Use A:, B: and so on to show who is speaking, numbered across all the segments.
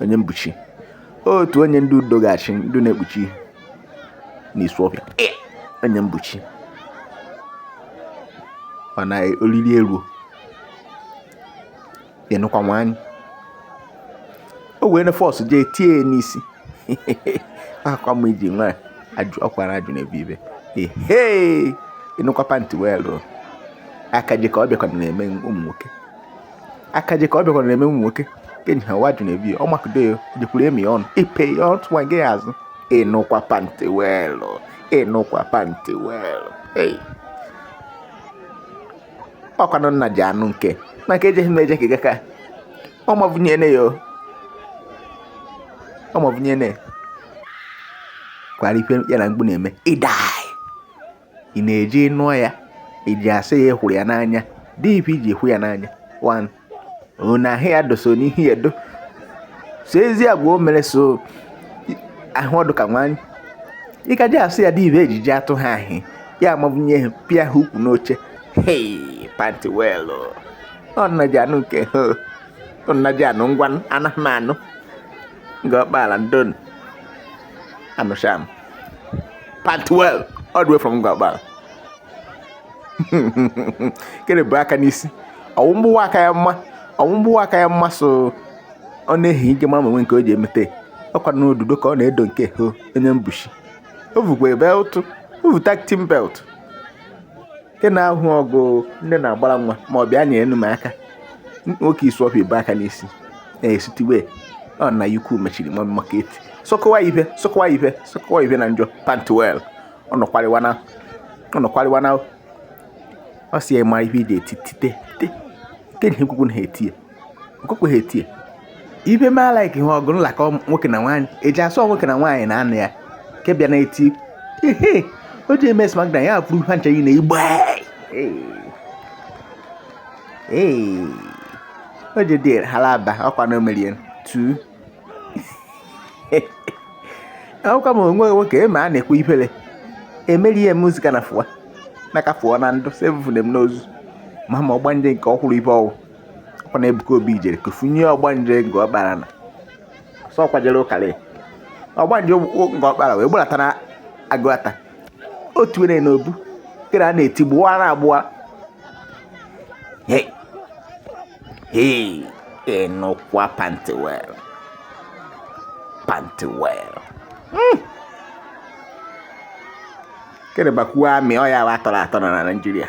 A: Onyebuchi otu onye ndị Udo Ga-achị ndị na-ekpuchi n'Isuofia Onyebuchi mana oriri eruo ịnụkwa nwanyị o wee na force jee tie ya n'isi akwa m iji nwa ọkwara ajụ na ebe ibe ehe ịnụkwa pantị weelụ akaje ka ọ bịakwa na-eme ụmụ nwoke akaje ka ọ bịakwara na-eme ụmụ nwoke kenyi ha waju na-ebibe ọ makụdo ya jekwuru emi ọnụ ipe ya ọtụ nwa gị azụ ịnụkwa pantị weelụ ịnụkwa pantị weelụ ei ọkwanụ nna ji anụ nke maka ejeghị m eje ka gaka ọmavụnyene ya ọmavụnyene kwara ife ya na mgbu na-eme ịdai ị na-eje nụọ ya iji asị ya hụrụ ya n'anya dị ife iji hụ ya n'anya one na ahụ ya doso n'ihe ya do so ezi agwa o mere so ahụ ọdụ ka nwanyị ị ka ji asị ya dị ife ejiji atụ ha ahị ya amabunye ha pịa ha ukwu n'oche hei panti weelụ ọnaji anụ nke ha ọnaji anụ ngwa anaghị m anụ Ngor Okpala ndonu Anụsham. Pantị weelụ, all the way from Ngor Okpala. Kene bụ aka n'isi. Ọwụ mgbụwa aka ya mma. Ọwụ mgbụwa aka ya mma so ọ na-ehi ike mara onwe nke o ji emete. Ọkwa n'odudo ka ọ na-edo nke ho Onyebuchi. O vukwa belt. O vu tag team belt. nke na-ahụ ọgụ ndị na-agbara nwa ma ọ bịa nyere m aka nwoke Isuofia bu aka n'isi na-esitiwe ọ na ikwu mechiri nwa maka eti sọkọwa ife sọkọwa ife sọkọwa ife na njọ pantị weelụ ọ nọkwarịwa na ọ nọkwarịwa na ọ si ya ma ife ị ga-eti tite tite tite na ekwukwu na ha eti ya okokweghị etie ife ma like ihe ọgụ nlakọ nwoke na nwaanyị eji asọ nwoke na nwaanyị na anụ ya nke bịa na-eti ihe o ji eme smackdown ya afụrụ ihe ncha niile igbe o ji dị halaba ọkwa na omerie tu akwụkwọ m onwe nwoke eme a na-ekwu ifele emerie m zika na fụwa naka fụọ na ndụ sevufunem n'ozu ma ma ọgbanje nke ọkwụrụ ife ọwụ ọkwa na Ebuka Obi jere kufunye ọgbanje Ngor Okpala na sọ kwajere ụkara ọgbanje Ngor Okpala wee gbarata na Aguata otu were na obu kere a na-eti gbụwa na agbụwa ịnụkwa pantị weelụ pantị weelụ hmm. kere bakwuo amị ọ ya atọrọ atọ na Naịjirịa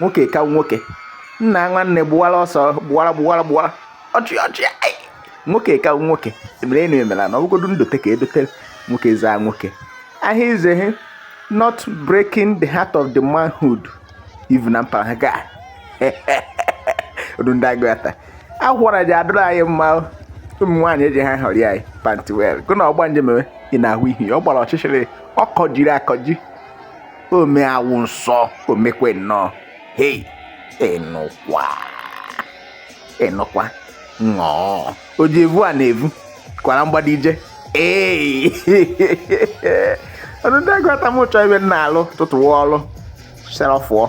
A: nwoke ka nwoke nna nwanne gbuwara ọsọ gbuwara gbuwara gbuwara ọchị ọchị nwoke ka nwoke emere enu emela na ọbụgodu ndote ka edote nwoke zaa nwoke ahịa izehe not breaking the heart of the manhood even na mpaghara ga odu ndị agụ ata akwara ji adụrụ anyị mma ụmụ nwaanyị eji ha họrị anyị pantiwel gụ na ọgba njem ị na-ahụ ihe ọ gbara ọchịchịrị ọ kọjiri akọji ome awụ nsọ omekwe nnọọ hei ịnụkwa ịnụkwa nnọọ o ji evu a na-evu kwara mgbada ije ee ọdụ ndị agụ ata mụ chọọ ebe m na-alụ tụtụwa ọlụ self ọ